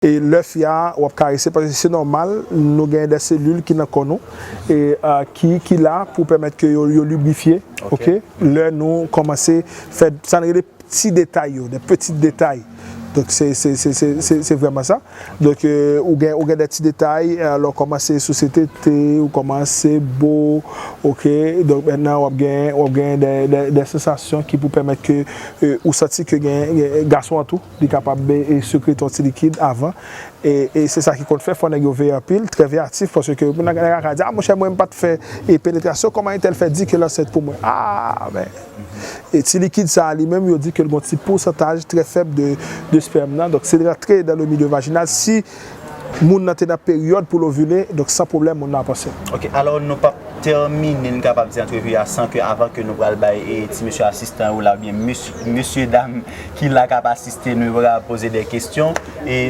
E lè fia wap karese paske se nòmal nou gen dè selil ki nan kò nou e ki ki la pou pèmèt ke yo yo librifye ok lè nou kòmanse fè sa n rele pti detay yo dè peti detay donk se se se se se se vrèman sa donk ou gen ou gen dè ti detay lè w kòmanse sou se te te ou kòmanse bo ok donk mètnan wap gen wap gen dè dè dè sansasyon ki pou pèmèt ke ou santi ke gen gason an tou. Li kapab sekre ton ti likid avan. E se sa ki konn fè, fò nèg yo veye anpil, trè veyatif, paske pou nèg la ka di, a monchè mwen m pa t fè penetrasyon, kòman entèl fè di ke l ansent pou mwen? A! Men! E ti likid sa a li menm, yo di ke l gen yon ti pousantaj trè fèb de spèm nan, donk si l rantre dan le milieu vaginal, si. Moun nan te nan peryòd pou l ovile, donk san pwoblèm moun nan ap ansent. Ok, alò nou pap tèmine, n kapab di antrevi a san ke avan ke nou pral bay ti mesye asistan yo la oubyen mesye dam ki la kap asiste nou yo pral poze dè kesyon.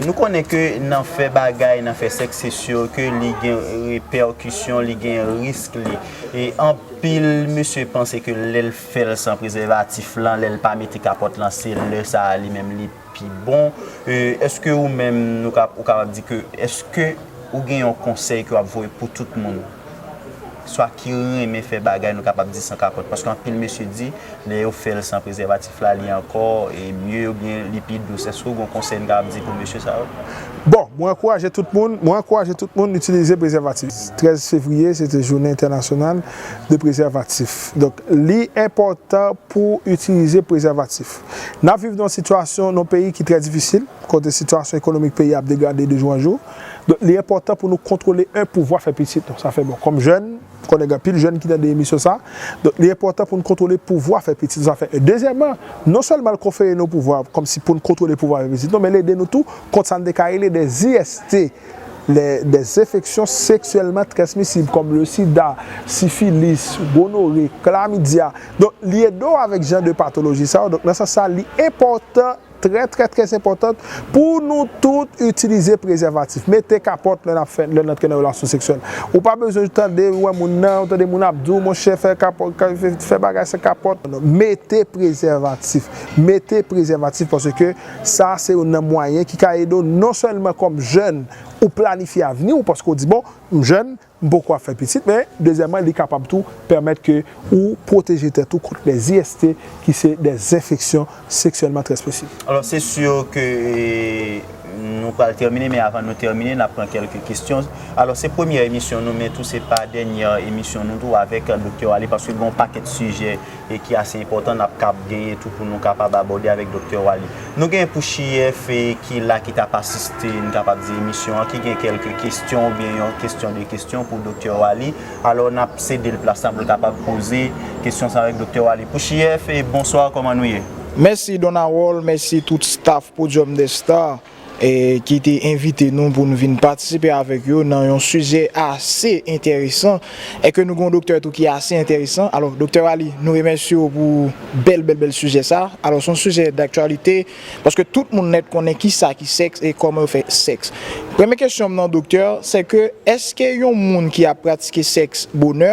Nou konnen ke nan fè bagay, nan fè sèks se si ke li gen repèkisyon, li gen risk li. E anpil mesye panse ke lè l fè l san prezèvatif lan, lè l pa mete kapòt lan se lè sa li menm li. pi bon eske ou menm nou ka ou kapab di ke eske ou gen yon konsèy ke wap voye pou tout moun swa ki renmen fè bagay nou kapab di san kapòt paske anpil mesye di lè yo fèl san prezèvatif la li ankò e mye oubyen li pi dous eske ou gen yon konsèy nou kapab di pou mesye sa yo? Bon mwen ankouraje tout moun mwen ankouraje tout moun itilize prezèvatif 13 fevriye se te jounen entènasyonal de prezèvatif donk li enpòtan pou itilize prezèvatif. N ap viv nan yon sitiyasyon, nan yon peyi ki trè difisil, kote sitiyasyon ekonomik peyi a ap degrade de jou an jou. Donk li enpòtan pou nou kontwole 1 pouvwa fè pitit nou. Sa fè bon. Kòm jèn, m konnen gen anpil jèn ki tande emisyon sa a. Donk li enpòtan pou n kontwole pouvwa fè pitit nou. Sa fè 1. Dezyèman, non sèlman l konfere nou pouvwa kòmsi pou n kontwole pouvwa fè pitit nou, men l ede nou tou kont sa n te ka rele dè IST. lè de enfeksyon seksyèlman transmisib kòm le sida, sifilis, gonore, klamidya. Donk li ede w avèk jan de patoloji sa yo. Donk nan sans sa li enpòtan, trè trè trè enpòtant pou nou tout itilize prezèvatif. Mete kapòt lè nap fè, lè n antre nan relasyon seksyèl. Ou pa bezwen tande, wè moun nan, ou tande moun ap di w monchè fè kapò, fè bagay san kapòt. Mete prezèvatif. Mete prezèvatif paske. Sa a se youn nan mwayen ki ka ede w non sèlman kòm jèn ou planifye avni w paske w di bon m jèn m poko ap fè pitit men dezyèman li kapab tou pèmèt ke ou pwoteje tèt ou kont les IST ki se dè zenfeksyon seksyèlman transmisib. Alò se sur ke nou pral tèmine men avan nou tèmine n ap pran kèlke kesyon. Alò se premyè emisyon nou men tou se pa dènyè emisyon nou tou avèk Doktè Waly paske gen yon pakèt sijè e ki ase enpòtan n ap kab genyen tou pou nou kapab abòde avèk Doktè Waly. Nou gen pou CHIEF ki la ki t ap asiste n kapab di emisyon an ki gen kèlke kesyon oubyen yon kesyon de kesyon pou Doktè Waly. Alò n ap sede l plas la pou l kapab poze kesyon sa yo avèk Doktè Waly. Pou CHIEF, bonswa kòman nou ye? Mèsi Don Harold, mèsi tout staff Podium des Stars. ki te envite nou pou nou vin patisipe avèk yo nan yon sijè ase enteresan, e ke nou gen yon doktè tou ki ase enteresan. Alò, Doktè Waly, nou remèsye w pou bèl bèl bèl sijè sa. Alò, se yon sijè daktyalite, paske tout moun nèt konnen ki sa ki sèks e kòman yo fè sèks. Premye kesyon m nan doktè, sè ke, èske yon moun ki ap pratike sèks bonè,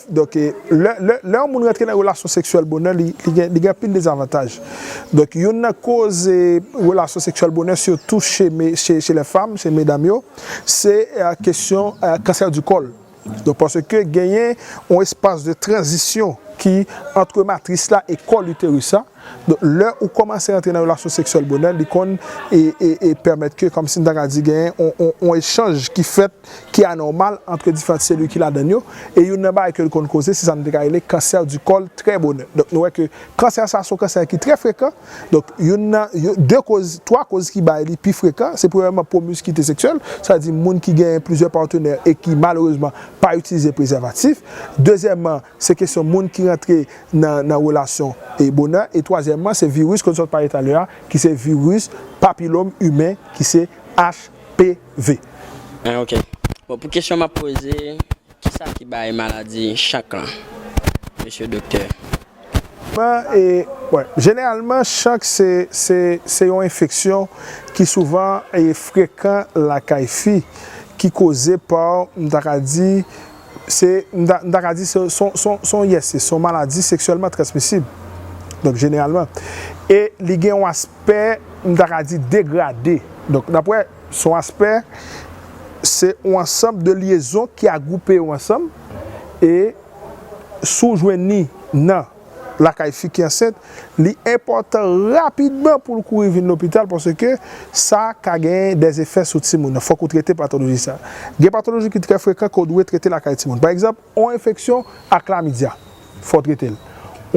Donk, lè yon moun rantre nan relasyon seksyèl bonè, li gen anpil dezavantaj. Donk, youn nan koz relasyon seksyèl bonè, sitou che lè fanm, che medam yo, se kesyon kansè di kòl. Donk, paske genyen yon espas de tranzisyon ki antre matris la e kòl iteris la. Donk lè ou kòmanse antre nan relasyon seksyèl bonè li konn e pèmèt ke kòmsi m ta ka di genyen yon echanj ki fèt ki anòmal antre diferant selil ki ladann yo e youn nan bagay ke l konn koze se sa nou te ka rele kansè di kòl trè bonè donk nou wè ke kansè sa se yon kansè ki trè frekan donk youn nan de koz twa koz ki bay li pi frekan se premyèman pwomiskite seksyèl sa di moun ki genyen plizyè patenè e ki malerezman pa itilize prezèvatif dezyèmman Se kesyon moun ki rantre nan relasyon e bonè. E twazyèmman, se viris ke nou sot pale talè a, ki se viris papilom imen, ki se HPV. Ah ok. Bon pou kesyon map poze, kisa ki bay maladi chank lan Mesye Doktè? Jeneralman chank se yon enfeksyon ki souvan frekan lakay fi, ki koze pa, m ta ka di, Se, m ta, m ta ka di se son, son, son yèse, son maladi seksyèlman transmisib, donk jeneralman. E li gen yon aspè, m ta ka di degrade. Donk n ap wè, se yon aspè, se yon ansanm de lyezon ki agwoupe yo ansanm e si w jwenn li nan. lakay fi ki ansent, li enpòtan rapidman pou l kouri vin lopital paske sa ka gen dè efè sou timoun nan. Fòk ou trete patoloji sa. Gen patoloji ki trè frekan ke w dwe trete lakay timoun. Pa egzanp, yon enfeksyon a klamidya, fò w trete l.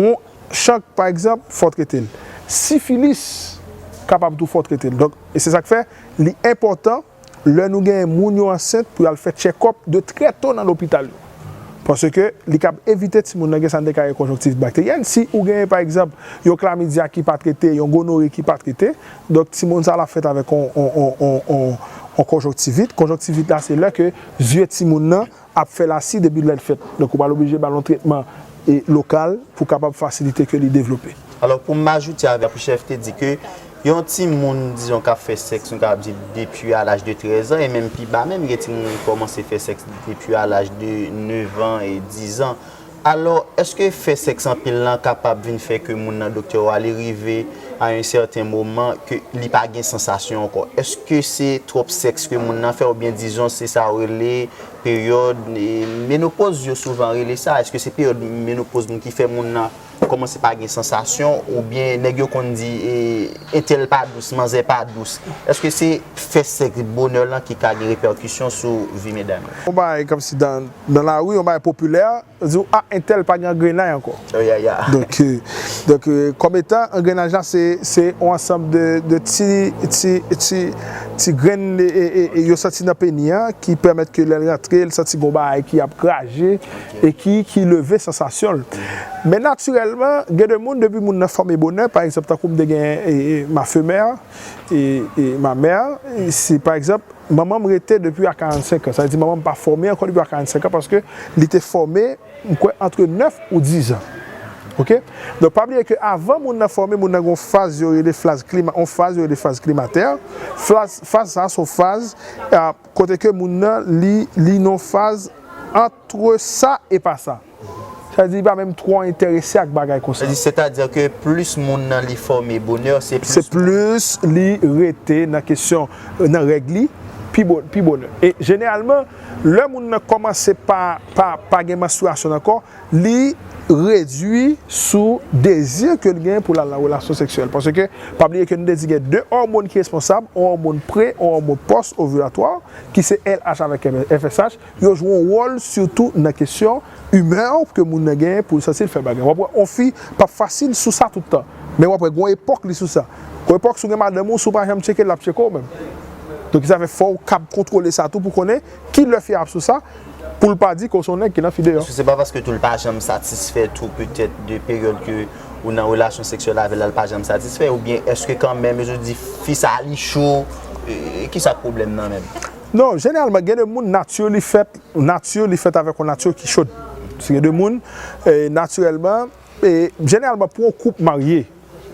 Yon chank pa egzanp, fò w trete l. Sifilis kapab tou fò w trete l. Donk, se sa k fè li enpòtan. lè nou gen moun yo ansent pou y al fè tchèkòp de trè to nan lopital yo. Paske li kab evite timoun nan gen sa nou te ka rele konjonktivit bakteryèn. Si ou gen pa egzanp yon klamidya ki pa trete, yon gonore ki pa trete, donk timoun sa l ap fèt avèk yon konjonktivit. Konjonktivit la se lè ke zye timoun nan ap fè lasi depi lèn fèt. Donk ou pral oblije ba l yon tretman lokal pou kapab fasilite ke li devlope. Alò pou m ajoute avèk ou chèf te di ke yon timoun dizon k ap fè sèks nou kapab di depi a laj de 13 an e menm pi ba menm gen timoun ki kòmanse fè sèks depi a laj de 9 an e 10 an. Alò, èske fè sèks anpil lan kapab vin fè ke moun nan, doktè ou a, li rive a yon sèten moman ke li pa gen sansasyon ankò? Èske se twòp sèks ke moun nan fè oubyen dizon se sa yo rele peryòd menopoz yo souvan rele sa, èske se peryòd menopoz moun ki fè moun nan kòmanse pa gen sansasyon oubyen nèg yo konn di entèl pa dous, manzè pa dous. Èske se fè sèks bonè lan ki ka gen repèkisyon sou vi medam yo? Yon bagay kòmsi dan nan lari yon bagay popilè, yo di ou a entèl pa gen angrennay ankò. Donk kòm etan angrennaj la se yon ansanm de ti grenn yo santi nan peni an ki pèmèt ke lè l rantre l santi gen yon bagay ki ap graje e ki leve sansasyon l. Men natirèlman gen de moun depi moun nan fòme bonè pa egzanp tankou m te gen ma femè, ma mère, si pa egzanp. Manman m rete depi a 45 an. Sa vle di manman m pa fòme ankò depi a 45 an paske li te fòme m kwè antre 9 ou 10 an. Ok. Donk pa bliye ke avan moun nan fòme, moun nan gen yon faz yo rele flaz klima, yon faz yo rele faz klimatè. Flaz, faz sa a se yon faz kote ke moun nan li li nan yon faz ant Twò sa e pa sa. Sa vle di li pa menm twò enterese ak bagay konsa. Sètadi ke plis moun nan li fòme bonè, se plis moun. Se plis li rete nan kesyon, nan règ li, pi bonè. E jeneralman, lè moun nan kòmanse pa gen manstriyasyon l ankò, li redui sou dezi ke l gen pou l al nan relasyon seksyèl. Paske, pa bliye ke nou te di gen 2 òmon ki responsab, yon òmon pre, yon òmon pòs ovilatwa, ki se LH avèk FSH. Yo jwe yon wòl sitou nan kesyon imè ke moun nan genyen pou l sansi l fè bagay. W ap wè yon fi p ap fasil sou sa tout tan. Men w ap wè gen yon epòk li sou sa. Gen yon epòk si w gen madanm ou, si w pa janm tcheke l l ap tcheke w menm. Donk ki sa fè fò w kab kontwole sa tou pou konnen ki lè fi a ap sou sa pou l pa di ke w se yon nèg ki nan fi deyò. Èske se pa paske tou l pa janm satisfè tou petèt de peryòd ke w nan relasyon seksyèl avè l la l pa janm satisfè oubyen èske kanmenm e je di fi sa li cho e ki sa k pwoblèm nan menm? Non, jeneralman gen de moun nature li fèt, nature li fèt avèk yon nature ki chod. Gen de moun naturèlman, jeneralman pou yon koup marye,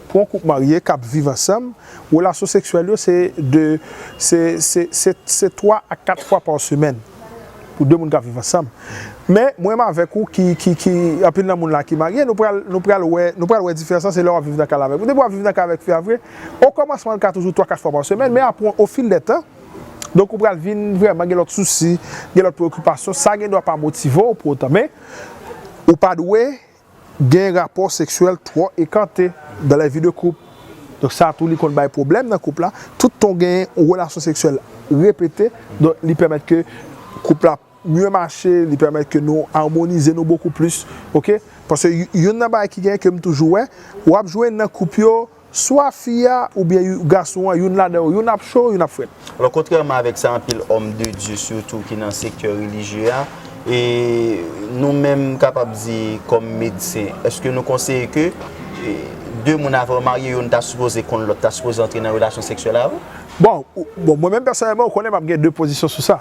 pou yon koup marye kap viv ansanm, relasyon seksyèl yo se de, se, se, se, se 3 a 4 fwa pa semèn pou 2 moun kap viv ansanm. Men mwen menm avèk ou ki, ki, ki, anpil nan moun la ki marye, nou pral, nou pral wè, nou pral wè diferans lan se lè wap viv nan kay la avèk. Depi wap viv nan kay la avèk fi a vre, o kòmansman li ka toujou 3, 4 fwa pa semèn, men apre o fil dè tan, Donk ou pral vin vrèman gen lòt sousi, gen lòt preokipasyon. Sa gen dwa pa motive w pou otan men ou pa dwe gen rapò seksyèl twò ekante dans la vie de couple. Donk sa tou li konn bay pwoblèm nan koup la. Tout tan w gen yon relasyon seksyèl repete, donk li pèmèt ke koup la mye mache, li pèmèt ke nou armonize nou bokou plis. Ok. Paske youn nan bagay ki gen ke m toujou wè, w ap jwenn nan koup yo, Swa fi a oubyen gason an, youn ladan yo, youn ap cho, youn ap frèt. Alò, kontrèman avèk sa anpil òm de Dye sitou ki nan sektè relijye a, e nou menm m kapab di kòm medsen, èske nou konseye ke de moun avan yo marye youn ta sipoze konn lòt, ta sipoze antre nan relasyon seksyèl avan? Bon, mwen menm pèsonèlman ou konnen m ap gen de pozisyon sou sa.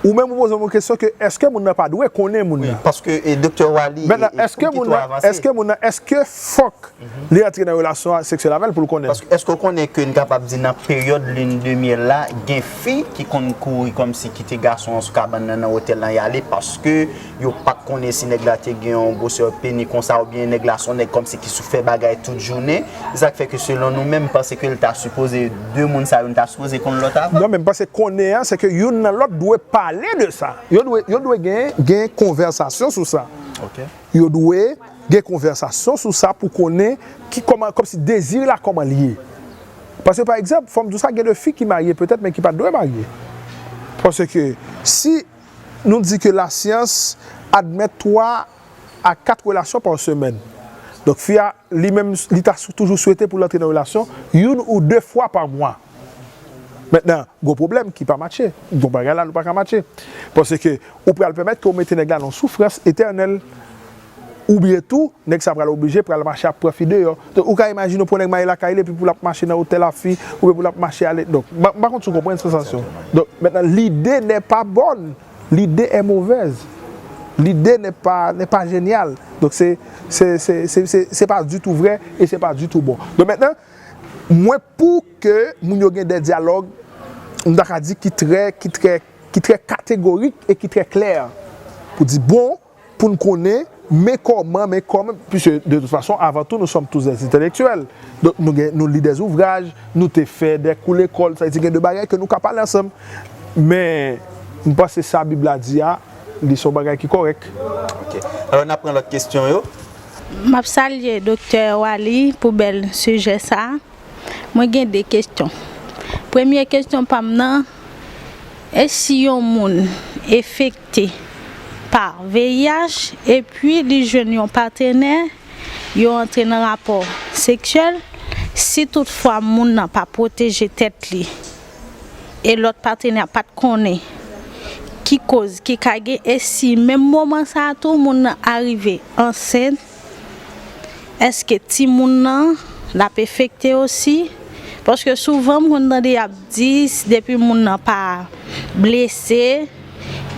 Ou menm ou pozem yon kesyon ke eske moun nan pa dwe konnen moun nan. Wi, paske Doktè Waly e Pouki to avanse. Eske moun nan, eske fòk li antre nan relasyon seksyèl avèl poul konnen? Paske eske ou konnen ke n kapab di nan peryòd lune de miel la gen fi ki konn kouri kòmsi kite gason an sou kabann nan nan otèl lan yale paske Yo pat konnen si nèg la te gen yon gwosè peni konsa oubyen nèg la son nèg kòmsi ki sou fè bagay tout jounen. Se sak fè ke selon nou menm panse ke l ta sipoze 2 moun sa yo nou ta sipoze konn lòt avan. Non men m panse konnen an se ke youn nan lòt dwe pale de sa. Yo dwe yo dwe gen gen konvèsasyon sou sa. Ok. Yo dwe gen konvèsasyon sou sa pou konnen ki kòman kòmsi dezi la kòman l ye. Paske pa egzanp fò m di w sa gen de fi ki marye petèt men ki pat dwe marye. Paske si. Nou di ke lasyans admèt 3 a 4 relasyon pa semèn. Donk fi a li menm li ta toujou swete pou l antre nan relasyon youn ou 2 fwa pa mwa. Mentnan gon pwoblèm ki pa matche. Gon bagay la nou pa ka matche. Paske ou pral pèmèt ke ou mete nèg la nan yon soufrans etènèl. Oubyen tou, nèg sa pral oblije pral mache ap pran fi deyò. Donk, ou ka imajine yon nèg marye lakay li epi pou l ap mache nan otèl ak fi, oubyen pou l ap mache ale. Donk, m pa konn si w konprann sansasyon an. Donk, mentnan, lide nè pa bòn. Lide è movèz. Lide nè pa, nè pa jenyal. Donk, se, se, se, se, se, se pa ditou vrè e se pa ditou bon. Donk, mentnan, mwen pou ke moun yo gen de dyalòg, m ta ka di ki trè, ki trè, ki trè kategorik e ki trè klè pou di bon, pou n konnen men kòman, men kòman, piske de tout fason, avan tou nou sòm tous dè entèlektyèl, donk nou gen, nou li dè zouvraj, nou te fè dè kou lekòl, sa vle di gen de bagay ke nou ka pale ansanm. Men, m panse sa Bib la di a, li se yon bagay ki kòrèk. Ok. Alò n ap pran lòt kesyon yo. M ap salye Doktè Waly pou bèl sijè sa a. Mwen gen de kesyon. Premye kesyon pa m nan, e si yon moun efek. afekte pa VIH epi li jwenn yon patenè, yo antre nan rapò seksyèl, si tout fwa moun nan pa pwoteje tèt li e lòt patenè a pat konnen ki koz ki ka gen e si menm moman sa tou moun nan arive ansent, Eske timoun nan lap efekte osi paske souvan m konn tande yap di depi moun nan pa blese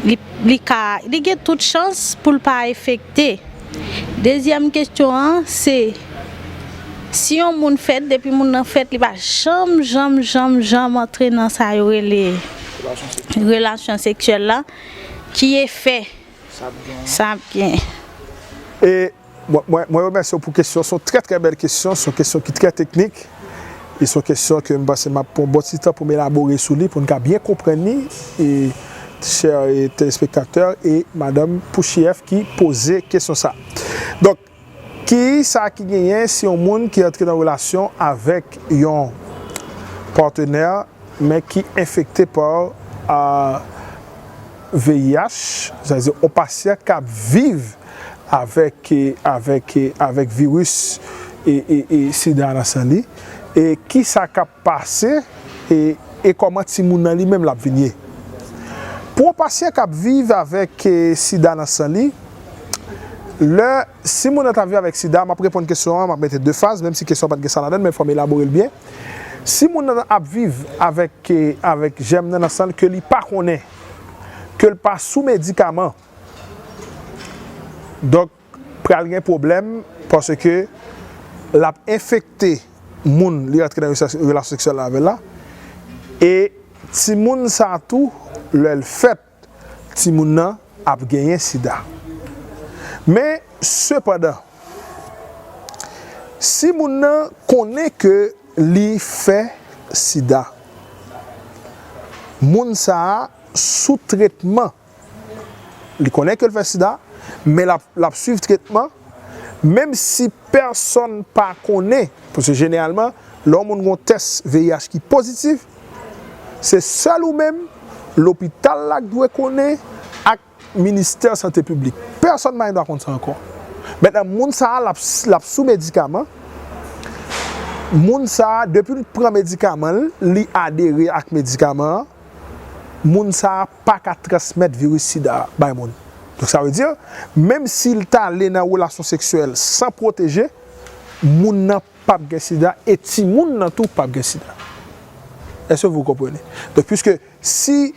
li ka li gen tout chans poul pa efekte dezyèm kesyon an se si yon moun fèt depi moun nan fèt li pa janm janm janm janm antre nan sa yo rele relasyon seksyèl la ki efè. Sa ap gen. Sa ap gen. E mwen remèsye w pou kesyon, son trè trè bèl kesyon, son kesyon ki trè teknik, e son kesyon ke m panse m ap pran yon bon ti tan pou m elabore sou li pou n ka byen konprann li, e chè telespektatè e madanm Pouchièff ki poze kesyon sa. Donk. Ki sa ki genyen si yon moun ki antre nan relasyon avèk yon patenè men ki enfekte pa VIH, sa vle di yon pasyan k ap viv avèk viris sida nan san li e ki sa k ap pase e e kòman timoun nan li menm lap vin ye pou yon pasyan kap viv avèk sida nan san li lè si moun nan ta viv avèk sida map reponn kesyon an map mete de faz menm si kesyon an pat gen sa ladann men fòm elaborel byen si moun nan ap viv avèk avèk jèm nan nan sanl ke li pa konnen kel pa sou medikaman donk. Pral gen pwoblèm paske l ap enfekte moun li rantre nan relasyon seksyèl la avè l la e timoun sa tou lè l fèt timoun nan ap genyen sida. Men sepandan si moun nan konnen ke li fè sida moun sa sou tretman Li konnen ke l fè sida, men l ap swiv tretman, menm si pèsonn pa konnen, paske jeneralman, lè yon moun gen yon tès VIH ki pozitif, se sèl ou menm, lopital la k dwe konnen, ak ministè sante piblik. Pèsonn pa gen dwa konn sa ankò. Mentnan moun sa a, l ap sou medikaman, moun sa a, depi l pran medikaman l, li adere ak medikaman an, moun sa a, pa ka transmèt viris sida a bay moun. Donk sa vle di, menm si l t ale nan relasyon seksyèl san pwoteje, moun nan p ap gen sida e timoun nan tou p ap gen sida. Èske vou konprann? Donk piske si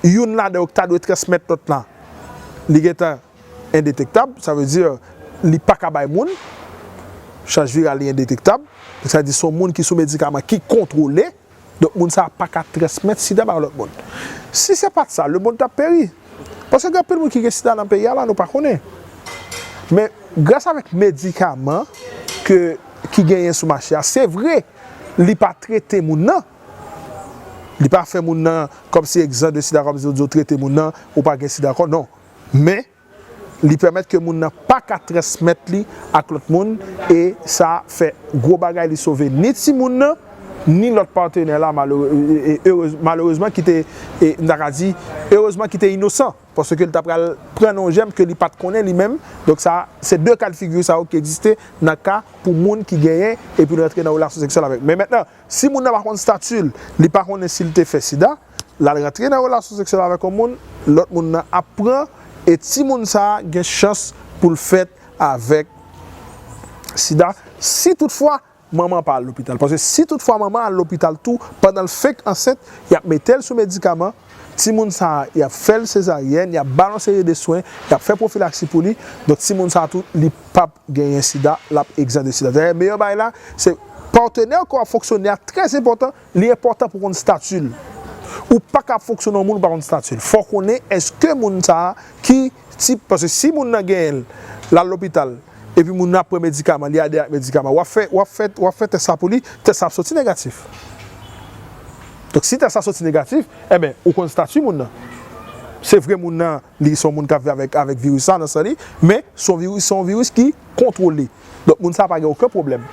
youn ladan yo ki ta dwe transmèt lòt la li gen tan endetektab, sa vle di li pa ka bay moun, chaj viral li endetektab, sa vle di se yon moun ki sou medikaman ki kontwole, Donk moun sa a pa ka transmèt sida bay yon lòt moun. Si se pa t sa, lemonn t ap peri. Paske gen anpil moun ki gen sida nan peyi a la nou pa konnen. Men, gras avèk medikaman ke ki genyen sou mache a, se vre li pa trete moun nan, li pa fè moun nan kòmsi egzan de sida kòmsi yo di yo trete moun nan ou pa gen sida ankò, non. Men, Li pèmèt ke moun nan pa ka transmèt li ak lòt moun e sa fè gwo bagay li sove ni timoun nan ni lòt patenè la malerezman ki te nou ta ka di erezman ki te inosan paske li ta pral pran nan yon jèm ke li pa t konnen li menm donk sa se de ka de figi sa yo ki egziste nan ka pou moun ki genyen epi l rantre nan relasyon seksyèl avèk men mètnan Si moun nan pa konn stati l, li pa konnen si l te fè sida, l al rantre nan relasyon seksyèl avèk yon moun, lòt moun nan ap pran e timoun sa a gen chans pou l fèt avèk sida si tout fwa manman an pa al lopital. Paske si tout fwa manman an al lopital tou pandan l fenk ansent, y ap mete l sou medikaman. Timoun sa a, y ap fè l sezaryèn, y ap ba l yon seri de swen, y ap fè pwofilaksi pou li. Donk timoun sa a tou, li p ap genyen sida, l ap egzan de sida. Dayè meyè bagay la, se patenè ke w ap fonksyone a trè enpòtan, li enpòtan pou w konn stati l. Ou pa ka ap fonksyone yon moun ou pa konn stati l. Fò w konnen èske moun sa a ki. Si, paske si moun nan genyen l, l al lopital, epi moun nan ap pran medikaman, li adere ak medikaman, w ap fè, w ap fè, w ap fè tès la pou li, tès la ap soti negatif. Donk si tès la soti negatif, enben, ou konn stati moun nan. Se vre moun nan, li se yon moun k ap viv avèk, avèk viris la nan san li, men se yon viris, se yon viris ki kontwole. Donk moun sa a pa gen oken pwoblèm.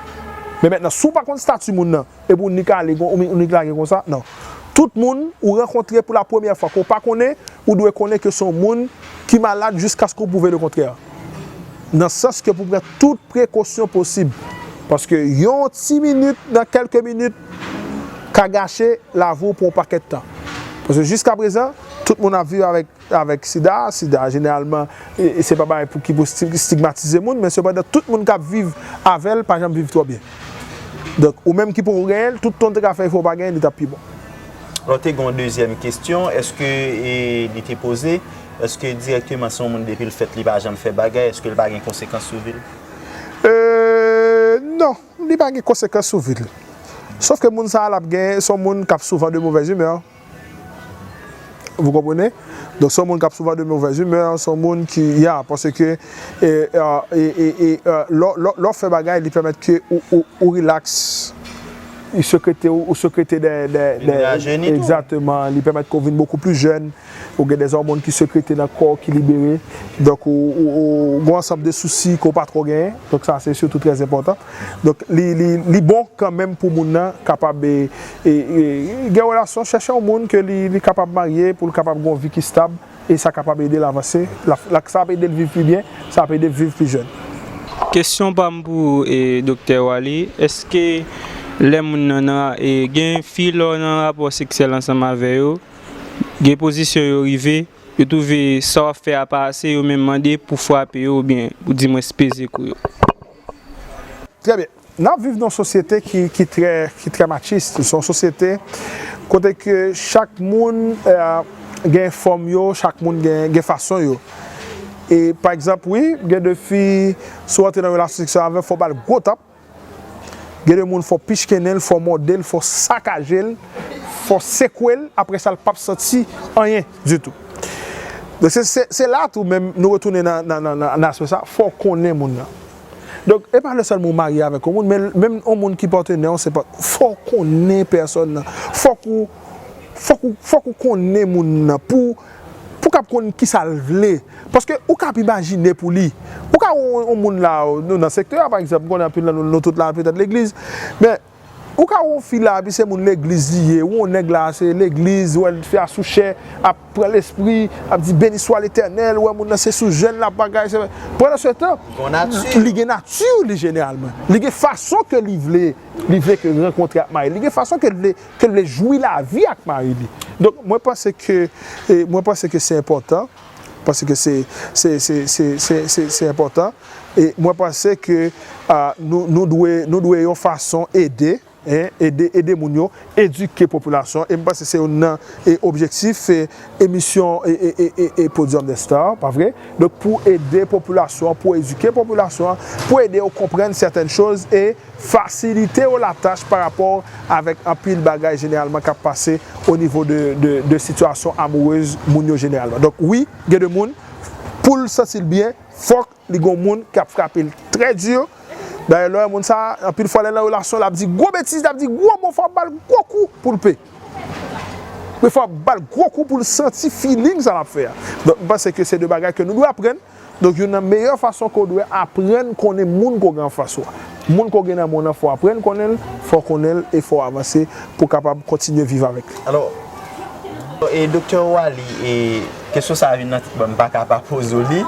Men mentnan si w pa konn stati moun nan epi w nik ale kon ou nik lage konsa nan. Tout moun ou rankontre pou la premyè fwa ke w pa konnen ou dwe konnen ke se yon moun ki malad jiskaske w pwouve le kontrè. Nan sans ke pou pran tout prekosyon posib. Paske yon ti minit nan kelke minit ka gache lavi w pou yon pakèt tan. Paske jiskaprezan tout moun ap viv avèk avèk sida, sida jeneralman se pa bagay pou ki pou stigmatize moun men sepandan tout moun kap viv avèl pa janm viv twò byen donk ou menm ki poko genyen l tout tan w te ka fè efò w pa genyen li tap pi bon. Alò te gen yon dezyèm kesyon eske li te poze eske dirèkteman si yon moun depi l fèt li pa janm fè bagay eske l pa gen konsekans sou vi l? Eee non li pa gen konsekans sou vi l sof ke moun sa l ap gen s on moun kap souvan de movèz imè Vous comprenez? Donk se yon moun k ap souvan de movèz imè, se yon moun ki ya paske lè w fè bagay li pèmèt ke ou rilaks, ou sekrete ou sekrete dè Vini rajeni tou Egzateman, li pèmèt ke w vin bokou plis jèn, ou gen dè òmòn ki sekrete nan kò w ki libere, donk ou gen yon ansanm de sousi ke w pa twò genyen, donk sa se sitou trè enpòtan. Donk li bon kanmenm pou moun nan kapab. Gen relasyon, chèche yon moun ke li kapab marye pou l kapab gen yon vi ki stab e sa kapab ede l avanse, sa ap ede l viv pi byen, sa ap ede l viv pi jèn. Kesyon pa m pou ou Doktè Waly, eske lè moun nan nan, gen fi lè w nan rapò seksyèl ansanm avè yo, gen pozisyon yo rive, yo twouve sa w ap fè a pa ase yo menm mande pou w frape yo oubyen di mwens peze kou yo? Trè byen. N ap viv nan yon sosyete ki trè machis, se yon sosyete kote ke chak moun gen fòm yo, chak moun gen fason yo. E pa egzanp wi, gen de fi si w antre nan relasyon seksyèl avè l fò w ba l gwo tap, gen de moun fò w pichkennen l, fò w mòde l, fò w sakaje l, fò w sekwe l, apre sa l pap santi anyen ditou. Se la tou menm nou retounen nan aspè sa, fò w konnen moun nan. Donk e pa lè sèlman ou marye avèk yon moun men menm yon moun ki patenè w se pa fò w konnen pèsòn nan fòk ou fòk ou fòk ou konnen moun nan pou w pou w kab konn kisa l vle paske ou kab imajine pou li ou ka wè yon moun la nou nan sektè a pa egzanp m konnen anpil nan nou nou tout la petèt legliz men Ou ka wè yon fi la epi se moun legliz li ye, ou wè yon nèg la se legliz, ou wè fi a sou chè ap pran lespri, ap di beni swa letènèl, ou wè moun nan se sou jèn lap bagay se, pandansetan li gen nati li jeneralman, li gen fason ke li vle, li vle ke rankontre ak mari li, li gen fason ke li vle jwi lavi ak mari li. Donk mwen panse ke, mwen panse ke se enpòtan paske se se enpòtan e mwen panse ke nou dwe nou dwe yon fason ede ede ede moun yo edike popilasyon e m panse se youn nan objektif emisyon e podium des stars pa vre donk pou ede popilasyon pou edike popilasyon pou ede yo konprann sètèn choz e Fasilite yo la tach pa rapò avèk anpil bagay jeneralman kap pase o nivo de de sitiyasyon amourez moun yo jeneralman. Donk wi gen de moun poul santi l byen fòk li gon moun kap frape l trè dur, dayè lè wè moun sa anpil fwa lè nan relasyon lap di gwo betiz lap di gwo mo fòk bal gwo kou poul pe wi fòk bal gwo kou poul santi feeling sa lap fè a. Donk m panse ke se de bagay ke nou dwe aprann. Donk youn nan meyè fason ke w dwe aprann konnen moun ke w gen anfas ou a, moun ke w gen nan men w lan fò w aprann konnen l, fò w konnen l e fò w avanse pou w kapab kontinye viv avèk li. Alò, e Doktè Waly, e kesyon sa a vin nan tèt mwen, m pa ka pa poze w li,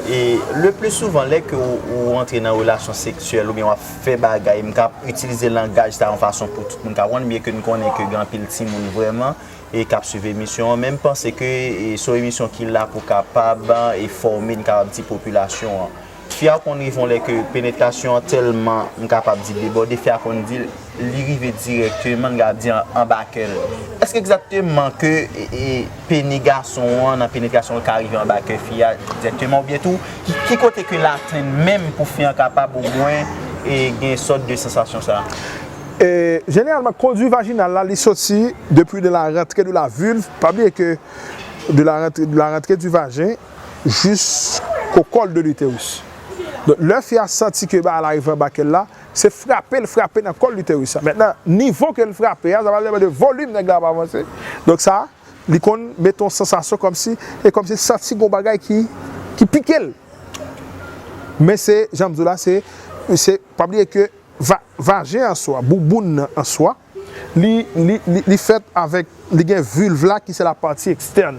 e le pli souvan lè ke w rantre nan relasyon seksyèl oubyen w ap fè bagay, m ka itilize langaj sa a yon fason pou tout moun ka konprann byen ke n konnen ke gen anpil timoun vrèman e kap swiv emisyon an, men m panse ke se yon emisyon ki la pou kapab enfòme n kapab di popilasyon an. Fi a konn rive yon lè ke penetrasyon an tèlman m kapab di debòde, fi a konn di li rive dirèkteman n kapab di anba kè l. Èske egzakteman ke peni gason an nan penetrasyon l ka rive anba kè fi a dirèkteman oubyen tou ki kote ke l atenn menm pou fi an kapab omwen gen sòt de sansasyon sa? Jeneralman kondwi vajinal la li soti depi de la rantre de la vulve, pa bliye ke de la rantre de la rantre du vagin jusko col de l'uterus. Donk lè fi a santi ke bagay la rive anba kèl la, se frape l frape nan col l'uterus la. Mentnan nivo ke l frape a, sa pa vle mande volume nèg la ap avanse. Donk sa li konn mete yon sansasyon kòmsi e kòmsi l santi gon bagay ki ki pike l. Men se janm di w la se se pa bliye ke. Va, vajen an swa, bouboun nan an swa, li, li, li, li fèt avèk, li gen vulve la ki se la pati ekstèn.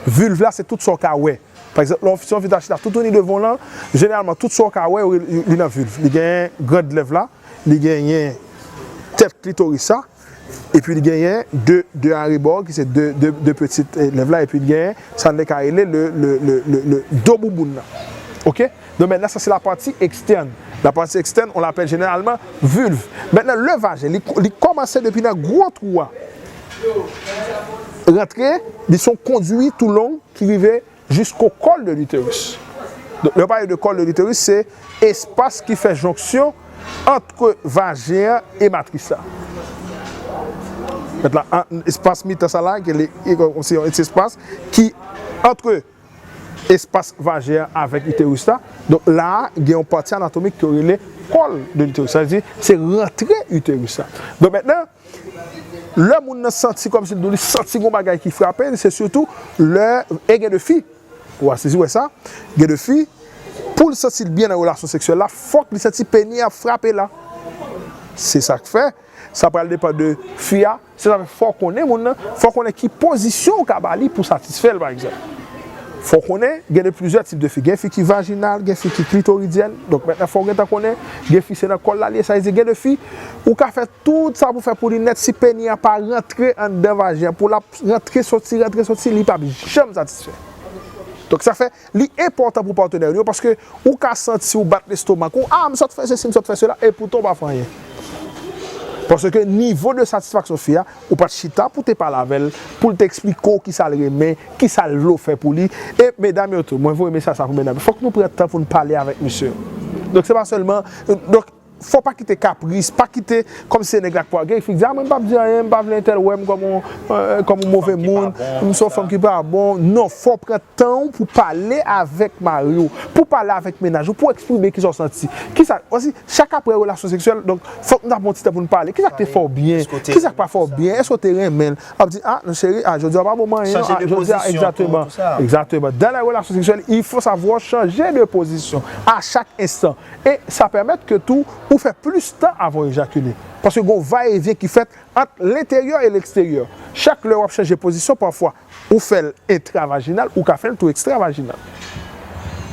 Vulve la se tout sa w ka wè. Pa egzanp, lè w, si yon fi ta chita toutouni devan w lan, jeneralman tout sa w ka wè yo rele, li nan vulve. Li gen grand lèv la, li genyen tèt klitoris la. epi li genyen de arebò ki se de peti lèv la epi li genyen sa nou te ka rele le do bouboun nan ok donk mètnan sa se la pati ekstèn la pati ekstèn on lapèl jeneralman vilv mètnan le vajen li kòmanse depi nan gwo twou a rantre li son kondwi tou long ki rive Jisko kòl de l'utérus. Donk lè yo pale de kòl de l'utérus se espas ki fè jonksyon antre vajen an e matris la. Mèt la espas mitan sa la ki rele se yon ti espas ki antre espas vajen an avèk utérus la. Donk la a gen yon pati anatomik ke yo rele kòl de l'utérus. Sa vle di se rantre utérus la. Donk mètnan Lè moun nan santi kòmsi li santi gon bagay ki frape l se sitou lè e gen de fi ou a sezi wè sa gen de fi pou l santi l byen nan relasyon seksyèl la fòk li santi peni a frape la se sa k fè sa pral depan de fi a se sa k fè fò w konnen moun nan fò w konnen ki pozisyon ou ka ba li pou w satisfè l pa egzanp fò w konnen gen de plizyè tip de fi gen fi ki vajinal gen fi ki klitoridyèn donk mèt la fò w gentan konnen gen fi se nan kòl la li ye sa vle di gen de fi ou ka fè. Tout sa pou fè pou li nèt si peni a pa rantre anndan vajen an pou lap rantre soti rantre soti li pap janm satisfè. Donk sa fè li enpòtan pou patenè ou yo paske ou ka santi ou bat lestomak ou ah m sot fè sesi m sot fè sela epoutan ou pa fè anyen. Paske nivo de satisfaksyon fi a ou pat chita pou te pale avèl pou l te eksplike w kisa l renmen kisa l vle w fè pou li e medam yo tou mwen voye mesaj sa pou medam yo fòk nou pran tan pou nou pale avèk mesye yo donk se pa sèlman donk Fò pa kite kapris, pa kite kòm si se nèg la k pou al gen fi k di a mwen m pap di anyen, m pa vle entèl wè m kòm on kòm on move moun, m se yon fanm ki pa bon, non fò w pran tan w pou pale avèk mari w, pou w pale avèk mennaj ou, pou w eksprime kisa w santi, kisa, wè si chak aprè relasyon seksyèl, donk fòk nou ta pran yon ti tan pou nou pale, kisa k te fè w byen, kisa k pa fè w byen, èske w te renmen l, wap di a non cheri a jodi a w pa bon m anyen non, a jodi a egzateman, egzateman, dan lè relasyon seksyèl il fò savwa chanje de pozisyon a chak enstan. E sa pèmèt ke tou ou fè plis tan avan w ejakile. Paske gen yon va e vyen ki fèt ant lenteryè e leksteryè. Chak lè w ap chanje pozisyon pafwa ou fè l entravajinal ou ka fè l tou ekstravajinal.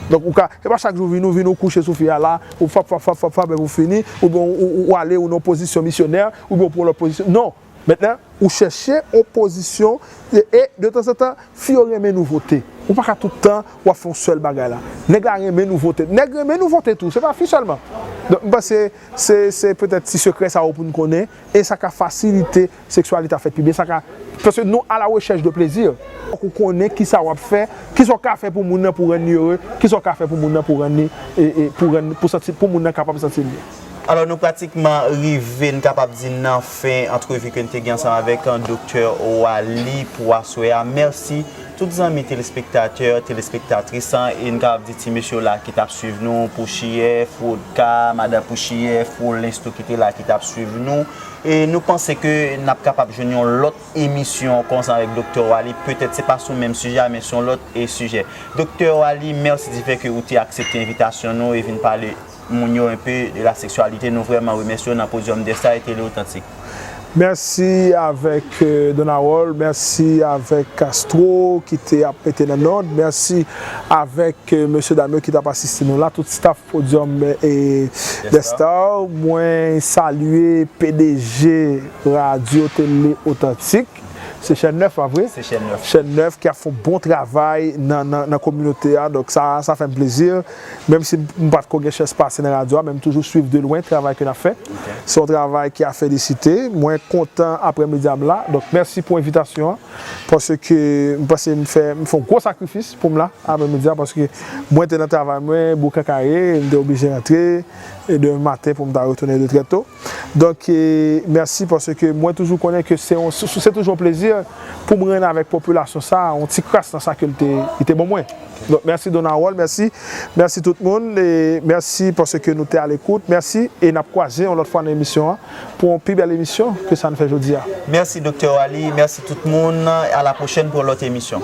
Donk ou ka, se pa chak jou ou vini ou vini ou kouche sou fi a la, ou fap fap fap fap fap epi ou fini, oubyen ou ale ou nan yon pozisyon misyonè, oubyen ou pran yon lòt pozisyon. Non! Mentnan, ou chèche yon pozisyon e de tanzantan fi yo renmen nouvote. Ou pa ka tout tan w ap fè yon sèl bagay la. Nèg la renmen nouvote. Nèg renmen nouvote tou, se pa fi sèlman. Donk m panse se se petèt ti sekrè sa yo pou n konnen e sa ka fasilite seksyalite a fèt pi byen. Sa ka Paske nou a la rechèch de plezi. Fòk ou konnen ki sa w ap fè, ki sa w ka fè pou moun nan pou w rann li ere, ki sa w ka fè pou moun nan pou w rann li e pou rann pou santi pou moun nan kapab santi l byen. Alò nou pratikman rive n kapab di nan fen antrevi ke n te gen ansanm avèk Doktè Waly pou aswè a. Mèsi tout zanmi telespektatè, telespektatris an e n kapab di ti mesye w la ki t ap swiv nou, Pouchiyè, Frodka, Madan Pouchiyè, Frolens tou ki te la ki t ap swiv nou. E nou panse ke n ap kapab jwenn yon lòt emisyon konsa avèk Doktè Waly. Petèt se pa sou menm sijè a men sou yon lòt sijè. Doktè Waly, mèsi di fè ke ou te aksepte envitasyon nou e vin pale. moun yo enpe de la seksyalite nou vreman remèsye w nan podium de sa e tele otantik. Mèsi avèk Don Harold, mèsi avèk Castro ki te ap mete nan nòd, mèsi avèk mesye dam yo ki tap asiste nou la, tout staff podium des stars, mwen salye pdg radio tele otantik. Se chèn 9 la vre. Se chèn 9. Chèn 9 ki ap fon bon travay nan kominote a. Donk sa sa fè m plezi. Menm si m pa t ko gen chans pase nan radyo a men m toujou swiv de lwen travay ke n ap fè. Se yon travay ki a felisite. Mwen kontan aprè midi a m la. Donk mèsi pou envitasyon an. Paske m panse m fè m fè yon gwo sakrifis pou m la aprè midi a. Paske mwen te nan travay mwen Boukakaye. M te oblije rantre demen maten pou m ta retounen de trè to. Donk mèsi paske mwen toujou konnen ke se toujou yon plezi pou m renn avèk popilasyon sa a yon ti kras nan sa ke l te ban mwen. Donk mèsi Don Harold, mèsi, mèsi tout moun, mèsi paske nou te alekout, mèsi e n ap kwaze yon lòt fwa nan emisyon an pou yon pi bèl emisyon ke sa n fè jodi a. Mèsi Doktè Waly, mèsi tout moun, alapwochèn pou yon lòt emisyon.